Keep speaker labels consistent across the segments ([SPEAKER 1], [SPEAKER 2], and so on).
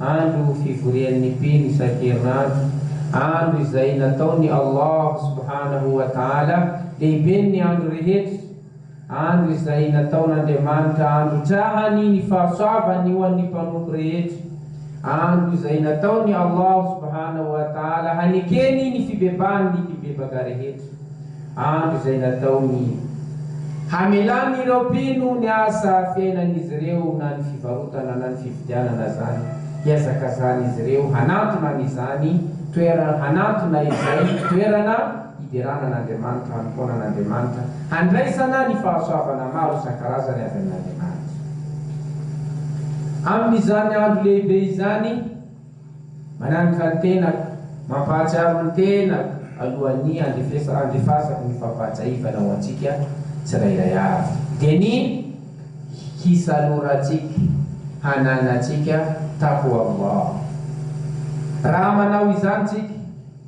[SPEAKER 1] Andro fivorian'ny mpino isan-kerinandro, andro izay nataon'i Allah subhanahu wa ta'ala lehiben'ny andro rehetra, andro izay nataon'Andriamanitra androtrahany ny fahasoavany ho an'ny mpanompo rehetra, andro izay nataon'i Allah subhanahu wa ta'ala hanekeny ny fibebahan'ny mpibebaka rehetra. andro izay nataony hamelany ireo mpino ny asa fiainan'izy ireo na ny fivarotana na ny fividianana izany hiazakazan'izy ireo hanantona an'izany toerana hanantona izay toerana hiderana an'Andriamanitra hanompoana an'Andriamanitra handraisana ny fahasoavana maro isan-karazany avy amin'Andriamanitra. Amin'izany andro lehibe izany. Mananitra ny tenako, mampahatsiaro ny tenako alohan'ny handefasako ny fampahatsiahivana ho antsika tsirairay avy. Dia ny hisalorantsika, hananantsika takoamoa. Raha manao izany isika.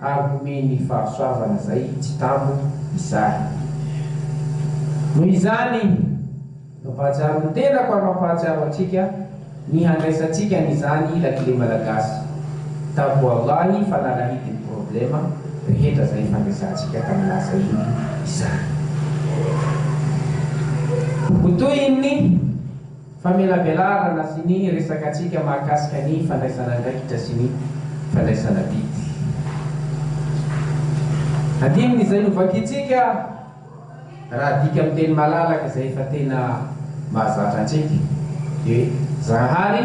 [SPEAKER 1] Ary homeny fahasoavana izay tsy tambo izany. Noho izany, mampahatsiaro ny tenako ary mampahatsiaro antsika ny handraisantsika an'izany lakile malagasy Taboalahy fa nalahidin'ny problema rehetra izay fandraisantsika tamin'ny lasa iny izany. Ho tohin'ny. famelabelarana sy ny resakatsika mahakasika ny fandraisana andraikitra sy ny fandraisana didy. Andininy izay novakintsika raha adika amin'ny teny malalaka izay efa tena mahazatra antsika dia hoe Zahary,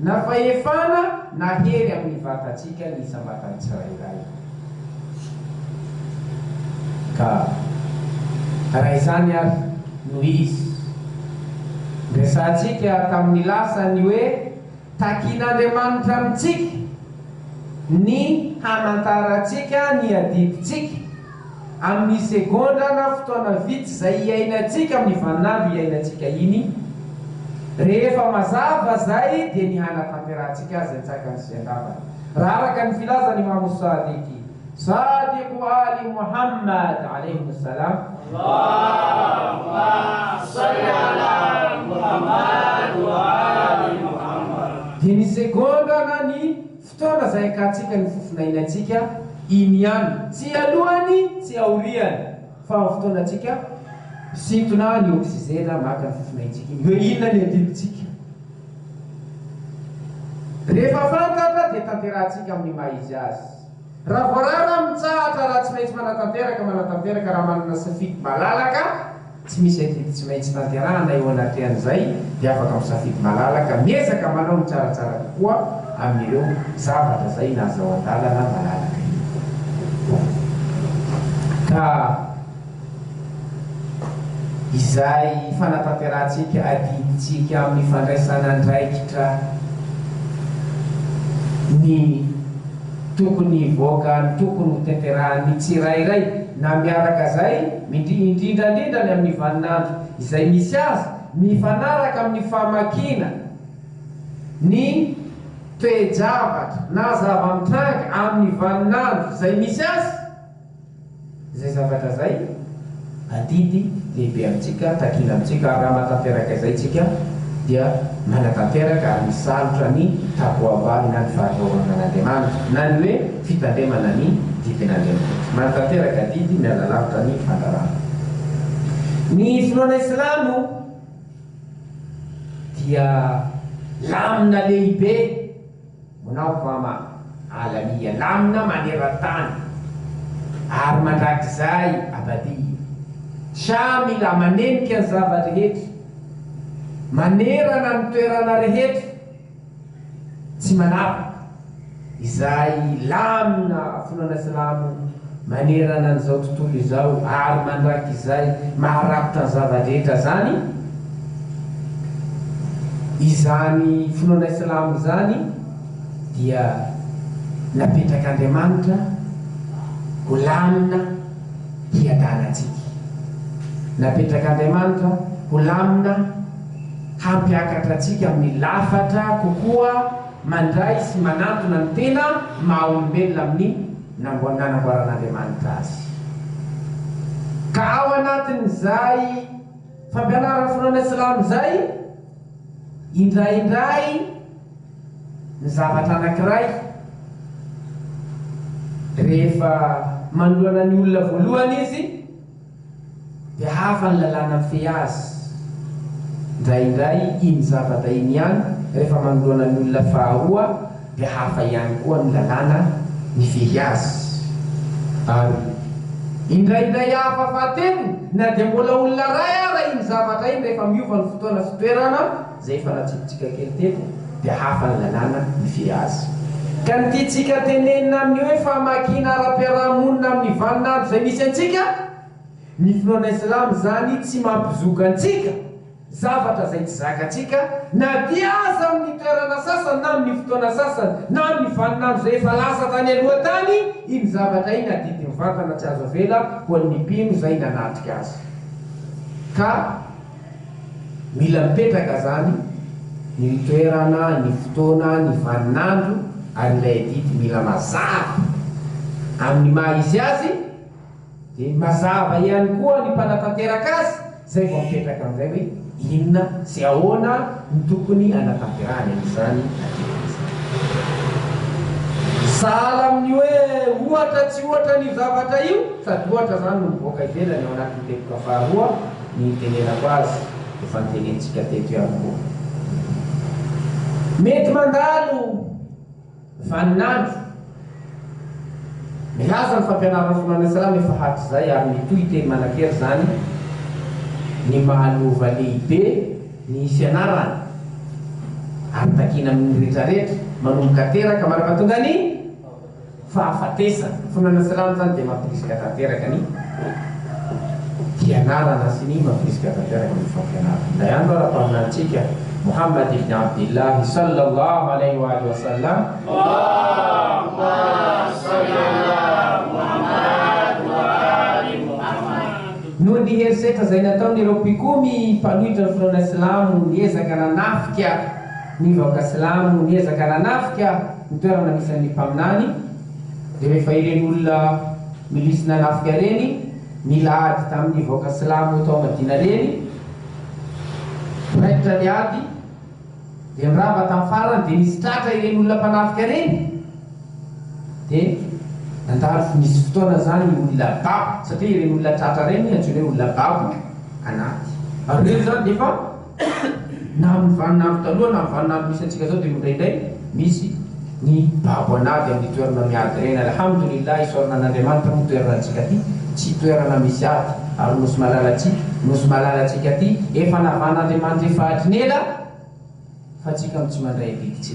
[SPEAKER 1] Na fahefana na hery amin'ny vatantsika ny isam-batan'ny tsirairay. Ka raha izany ary no izy, niresahantsika tamin'ny lasa ny hoe takin'Andriamanitra amintsika ny hamantarantsika ny adidintsika. Amin'ny segondra na fotoana vitsy izay iainantsika amin'ny vaninandro iainantsika iny, rehefa mazava izay dia ny hanatanterahantsika azy antsakany sy andavany. Raha araka ny filazan'i Imamo Sadiqi, Sadiqu Ali Muhammad alaihimu salam, Allahumma
[SPEAKER 2] salli ala Muhammad wa ali Muhammad, dia ny segondra
[SPEAKER 1] na ny. Fotoana izay ahitantsika ny fofona iainantsika iny ihany, tsy alohany, tsy aoriany, fa amin'ny fotoanantsika misintona ny oksizena maka ny fofona iaintsika iny. Hoe inona ny andinitsika? Rehefa fantatra dia tanterahantsika amin'ny maha izy azy. Raha voarara, mitsahatra raha tsy maintsy manatanteraka, manatanteraka raha manana safidy malalaka. Tsy misy adidy tsy maintsy tanterahana eo anatrehan'izay dia afaka misafidy malalaka miezaka manao ny tsaratsara kokoa amin'ireo zavatra izay nazao an-dalana malalaka iny ka izay fanatanterahantsika adidintsika amin'ny fandraisana andraikitra ny Tokony hivoaka ny tokony ho tanterahan'ny tsirairay na miaraka zay indrindrandrindra ny amin'ny vaninandro izay misy azy mifanaraka amin'ny famakiana ny toe-javatra na zava-mitranga amin'ny vaninandro izay misy azy. Izay zavatra izay, adidy lehibe amintsika, takina amintsika, ary raha mahatanteraka izay isika dia manatanteraka ary misalotra ny taboabany na ny faharohoranan'Andriamanitra, na ny hoe fitandremana ny didin'Andriamanitra. Manatanteraka adidy miala lavitra ny fandrarana. Ny finoana islamo dia lamina lehibe. Manao fama alamiha lamina maneran-tany ary mandrakizay abadiy. Shah mila manenika ny zava-drehetra manerana ny toerana rehetra tsy manavaka izay lamina finoana silamo. Manerana an'izao tontolo izao ary mandrakizay maharafitra ny zava-drehetra izany, izany finoana silamo izany dia napetrak'Andriamanitra ho lamina hiadana antsika. Napetrak'Andriamanitra ho lamina hampiakatra antsika amin'ny lafatra kokoa mandray sy manantona ny tena maha-olombelona amin'ny. Namboar Nanamboaran'Andriamanitra azy. Ka ao anatin'izay fampianaran'ny finoana silamo izay, indraindray ny zavatra anankiray rehefa manoloana ny olona voalohany izy, Dia hafa ny lalàna mifehy azy. Indraindray iny zavatra iny ihany rehefa manoloana ny olona faharoa dia hafa ihany koa ny lalàna mifehy azy. Ary indraindray hafa fahatelo na dia mbola olona iray ara iny zavatra iny rehefa miova ny fotoana sy toerana. Izay efa natsipitsika kely teto dia hafa ny lalàna hifidy azy. Ka ny tiantsika tenenina amin'ny hoe famakiana ara-piarahamonina amin'ny vaninandro izay misy antsika, ny finoana Islam izany tsy mampizoka antsika zavatra izay tsy zakantsika na dia aza amin'ny toerana sasany na amin'ny fotoana sasany na amin'ny vaninandro izay efa lasa tany aloha tany iny zavatra iny adidy mivantana tsy azo avela ho an'ny mpino izay nanatrika azy ka Mila mipetraka zany ny toerana, ny fotoana, ny vaninandro ary ilay adidy mila mazava amin'ny maha izy azy dia mazava ihany koa ny mpanatanteraka azy zay vao mipetraka amin'izay hoe inona sy ahoana no tokony hanatanterahany an'izany adidy izany. Sahala amin'ny hoe ohatra tsy ohatra an'io zavatra io sady ohatra zany no mivoaka ivelany ao anatin'ny teboka faharoa Ny itenenako azy efa nitenentsika teto ihany koa. Mety mandalo vaninandro milaza ny fampianarana ny finoana silamo efa hatrizay ary mitohy teny manan-kery izany ny mahalova lehibe ny fianarana ary takiana amin'ny rehetrarehetra manomboka teraka mandrapatonga ny fahafatesana. Finoana sy rano zany dia mampirisika tanteraka ny fianarana sy ny mampirisika tanteraka ny fampianarana. Indray andro ary Mpaminanintsika Mohammad ibn Abdillahi Sallallahu Alaihi wa alihi wa sallam, noho ny herisetra izay nataon'ireo mpikomy mpanohitra ny finoana silamo, niezaka nanafika ny vahoaka silamo, niezaka nanafika. Ny toerana misy an'ny mpaminany dia rehefa ireny olona milisy nanafika ireny nila ady tamin'ny vahoaka silamo tao Madina ireny raikitra ny ady dia nirava tamin'ny farany dia nisy tratra ireny olona mpanafika ireny dia nandalo nisy fotoana izany ny olona babo satria ireny olona tratra ireny antsoina hoe olona babo anaty Ireny izany dia efa Na amin'ny vaninandro taloha na amin'ny vaninandro misy antsika zao dia indraindray misy ny babo an'ady amin'ny toerana miady ireny. Alhamdoulillahi isaorana an'Andriamanitra moa toerana antsika ty tsy toerana misy ady ary nosy malala tsika nosy malala antsika ty efa navahan'Andriamanitra efa hatrin'ela fa tsika no tsy mandray adidy tsy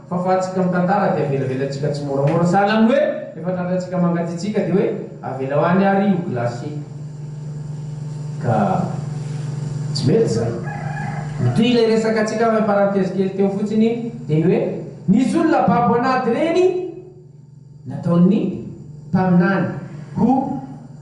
[SPEAKER 1] Fahafahantsika mitantara dia avelabelantsika tsimoramora. Sahala amin'ny hoe rehefa tratrantsika mangatsiatsiaka dia hoe avelao any ary io glace ka tsy mety izany. Mitohy ilay resakantsika avy amin'ny parenthèse kely teo fotsiny iny dia ny hoe misy olona babo an'ady ireny Nataon'ny mpaminany ho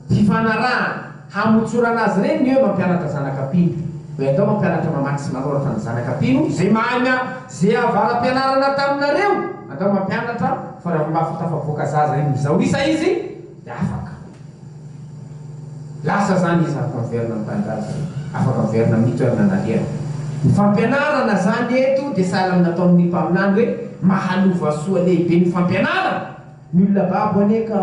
[SPEAKER 1] fifanarahana hamotsorana azy ireny ny hoe mampianatra zanaka mpino. Hoe andao mampianatra mamaky sy manoratra ny zanaka mpino izay mahay mianatra izay avara-pianarana taminareo, andao mampianatra fa raha olona hafa tafavoaka zaza inizao isa izy dia afaka. Lasa zany izy afaka miverina ny tanindrazany, afaka miverina amin'ny toerana nalehany. Ny fampianarana zany eto dia sahala amin'ny nataon'ny ny mpaminany hoe mahalova soa lehibe ny fampianarana. Ny olona babo anie ka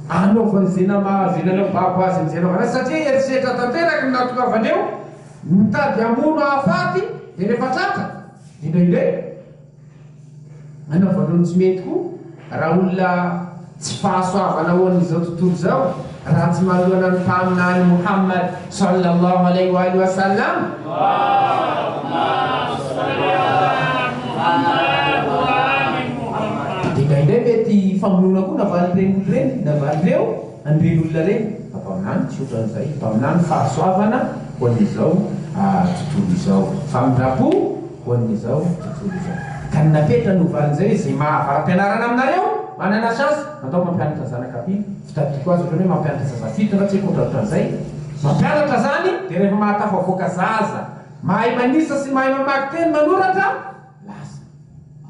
[SPEAKER 1] anaovany ze namahazo eny anao babo azy amizay anaovany azy satria herisetra tanteraka ny nahatongavany eo, mitady hamono hahafaty dia rehefa tratra dia indraindray. Anaovana ny tsy mety koa raha olona tsy fahasoavana ao amin'izao tontolo izao raha tsy manohana ny Mpaminany Mouhammad sallallahu alayhi wa alihi wa sallam. Allahumma salli ala Mouhammad wa ali Mouhammad. Dia indraindray mety famonoana koa navalin'ireny olona ireny, navalin'ireo an'ireny olona ireny. Fa Mpaminany tsy ohatran'izay. Mpaminany fahasoavana ho an'izao tontolo izao. Famindram-po. ho an'izao tontolo izao. Ka ny napetra no valin'izay hoe, ze maha varam-pianarana aminareo manana chance, andao mampianatra ny zanaka ampy, fitadidiako azy otrany hoe mampianatra zaza fito na tsy haiko otrany otran'izay, mampianatra zany de rehefa mahatafavoaka zaza mahay manisa sy mahay mamaky teny manoratra, lasa.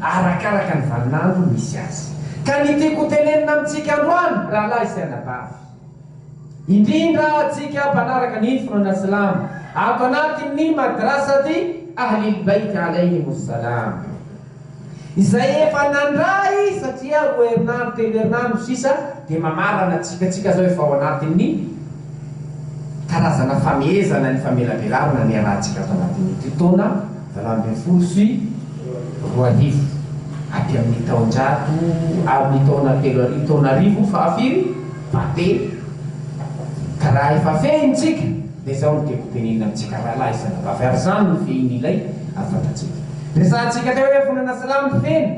[SPEAKER 1] arakaraka ny vaninandro misy azy. Ka ny tiako ho tenenina amintsika androany, rahalahy sy anabavy, indrindra antsika mpanaraka ny finoana silamo ato anatin'ny Madrasati Ahlil Bait Alaihimus Salam, izay efa nandray satria roa herinandro telo herinandro sisa dia mamarana antsika tsika zao efa ao anatin'ny karazana famehezana ny famelabelarana niarahantsika ato anatin'ity taona Valo ambin'ny folo sy roa arivo, aty amin'ny taonjato amin'ny taona telo arivo, taona arivo faha firy faha telo, ka raha efa fehiny tsika dia zao no tiako hotenenina amintsika rahalahy sy anabavy ary zany no fehin'ilay fantatsika resahantsika teo hoe fonana silamo feno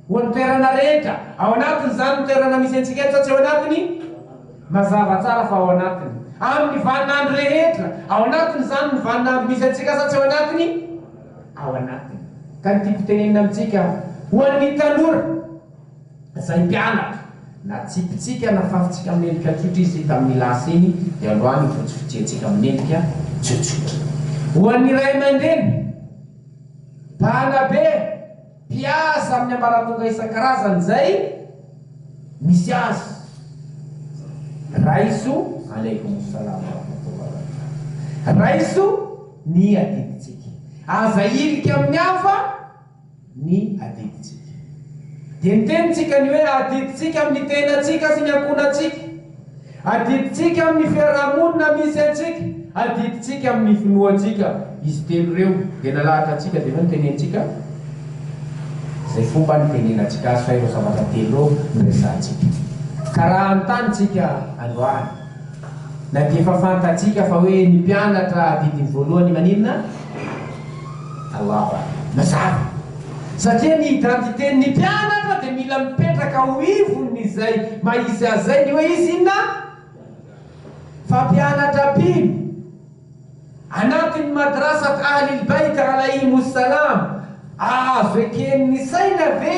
[SPEAKER 1] ho an'ny toerana rehetra ao anatin'izany ny toerana misy antsika eto sa tsy ao anatiny? Mazava tsara fa ao anatiny. Amin'ny vaninandro rehetra. Ao anatiny izany ny vaninandro misy antsika sa tsy ao anatiny? Ao anatiny. Ka ny tiako tenenina amintsika, ho an'ny tanora, izay mpianatra, na tsipitsika na fafintsika amin'endrika tsotra izy tamin'ny lasa iny, dia androany ifotsifotsiantsika amin'endrika tsotsotra. Ho an'ny ray aman-dreny, mpanabe. Mpiasa amin'ny ambaratonga isan-karazany izay misy azy. Raiso, Aleikomosalam warahmatullahi. Raiso ny adidintsika. Aza hirika amin'ny hafa ny adidintsika. Dia ny tenintsika ny hoe adidintsika amin'ny tenantsika sy ny ankohonantsika. Adidintsika amin'ny fiaraha-monina misy antsika, adidintsika amin'ny finoantsika. Izy telo ireo dia nalahatra antsika dia hoe notenenintsika izay fomba nitenenantsika azy fa ireo zavatra telo ireo no resahantsika. Ka raha hanontany isika androany na dia efa fantatsika fa hoe ny mpianatra adidiny voalohany maninona? Talava na zara. Satria ny identité ny mpianatra dia mila mipetraka ho ivon izay maha izy azy izay ny hoe izy inona? Fa mpianatra mpino anatin ny Madrasat Ahlil Bayt Alaihim Salam azo eken ny saina ve?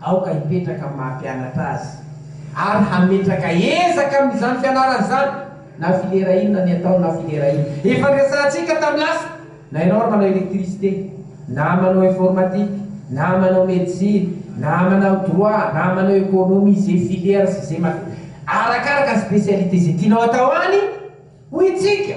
[SPEAKER 1] Aoka hipetraka amin'ny maha-mpianatra azy ary hametraka ezaka amin'izany fianarany izany, na filera inona ny ataony na filera inona. Efa niresahantsika tamin'ny lasa, na ianao ary manao électricité, na manao informatique, na manao médecine, na manao droit, na manao économie, izay filière sy izay matière, arakaraka ny spécialité izay tianao atao any, hoy isika.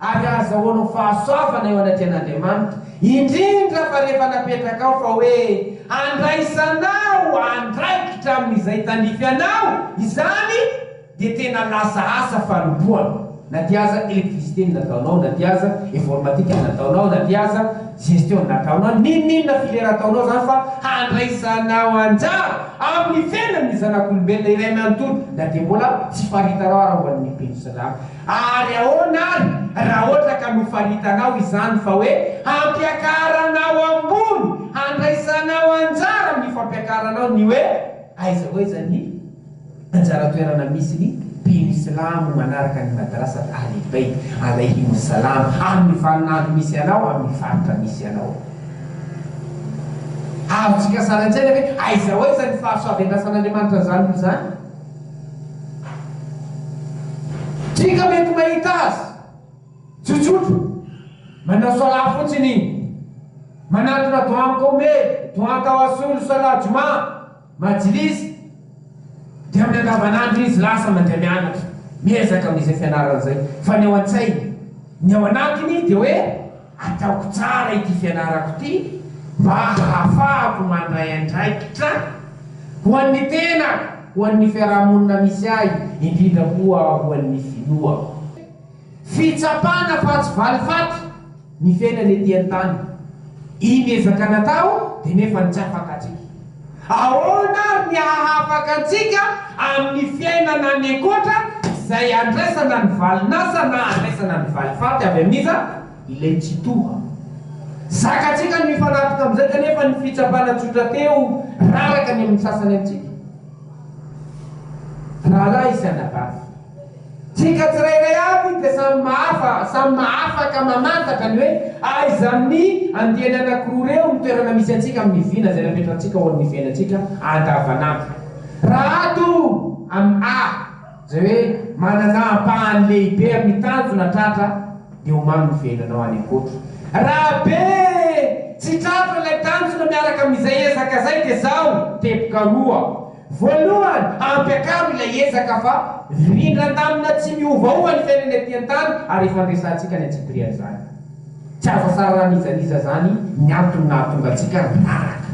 [SPEAKER 1] ary ahazahoanao fahasoavana eo anatrehan'Andriamanitra, indrindra fa rehefa napetraka ao fa hoe handraisanao andraikitra amin'izay tandrify anao izany, dia tena lasa asa fanompoana, na dia aza électricité no nataonao, na dia aza informatique no nataonao, na dia aza gestion no nataonao, n'inon'inona filière ataonao izany fa handraisanao anjara amin'ny fiainan'ny zanak'olombelona iray manontolo, na dia mbola tsy faritanao ary ao amin'ny pension. Ary ahoana ary raha ohatra ka nofaritanao izany fa hoe hampiakaranao ambony, handraisanao anjara amin'ny fampiakaranao ny hoe aiza ho aiza ny anjara toerana misy ny mpino silamo manaraka ny Madrasat Ahlil Bayt Alayhimus Salam amin'ny vaninandro misy anao amin'ny faritra misy anao? Azontsika sary an-tsaina ve aiza ho aiza ny fahasoaven-dRasan'Andriamanitra an'izany olona izany? Tsika mety mahita azy tsotsotra, manao salat fotsiny, manatona doha Qomeh, doha Tawassul, salat Juma, Majlis, dia amin'ny andavanandro izy lasa mandeha mianatra, miezaka amin'izay fianarana izay, fa ny ao an-tsainy, ny ao anatiny dia hoe, Ataoko tsara ity fianarako ity mba hahafahako mandray andraikitra ho an'ny tenako, ho an'ny fiarahamonina misy ahy, indrindra koa ho an'ny finoako. Fitsapana fa tsy valifaty ny fiainana ety an-tany. Iny ezaka natao dia nefa nitsapaka atsika. Ahoana ary ny hahafaka antsika amin'ny fiainana any ankoatra izay handraisana ny valin'asa na handraisana ny valifaty avy amin'iza? Ilay Tsitoha. Zakantsika ny mifanapika amin'izay kanefa ny fitsapana tsotra teo raraka ny amin'ny sasany amintsika. Rahalahy sy anabavy. Tsika tsirairay avy dia samy mahafa, samy mahafaka mamantatra ny hoe aiza amin'ny andiany anankiroa ireo ny toerana misy antsika amin'ny vina izay napetrantsika ho an'ny fiainantsika andavanandro. Raha ato amin'ny A izay hoe manana ampahany lehibe amin'ny tanjona tratra dia ho mamy ny fiainanao any an-koatra. Raha B, tsy tratra ilay tanjona miaraka amin'izay ezaka izay dia izao, teboka roa. Voalohany, ampiakaro ilay ezaka fa rindran-damina tsy miovaova ny fiainana ety an-tany ary ifandresantsika any antsipiriany izany. Tsy azo asararan'izan'iza izany ny antony nahatonga antsika miraraka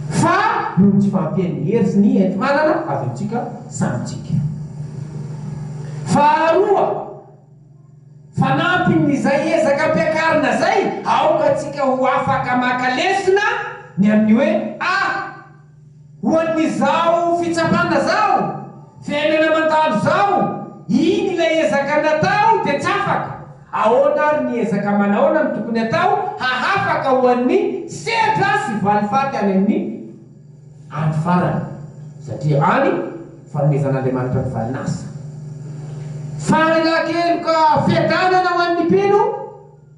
[SPEAKER 1] fa noho ny tsy fahampian'ny hery sy ny enti-manana avy amintsika samy tsika. Faharoa, fanampin'izay ezaka ampiakarina izay, aoka tsika ho afaka maka lesona ny amin'ny hoe Ah! Ho an'izao fitsapana zao, fiainana mandalo zao, iny ilay ezaka natao dia tsy afaka, ahoana ary ny ezaka manahoana no tokony atao hahafaka ho an'ny sehatra sy valifaty any amin'ny andro farany satria any fanomezan'Andriamanitra ny valinasa. Fahalakeloka fiadanana ho an'ny mpino.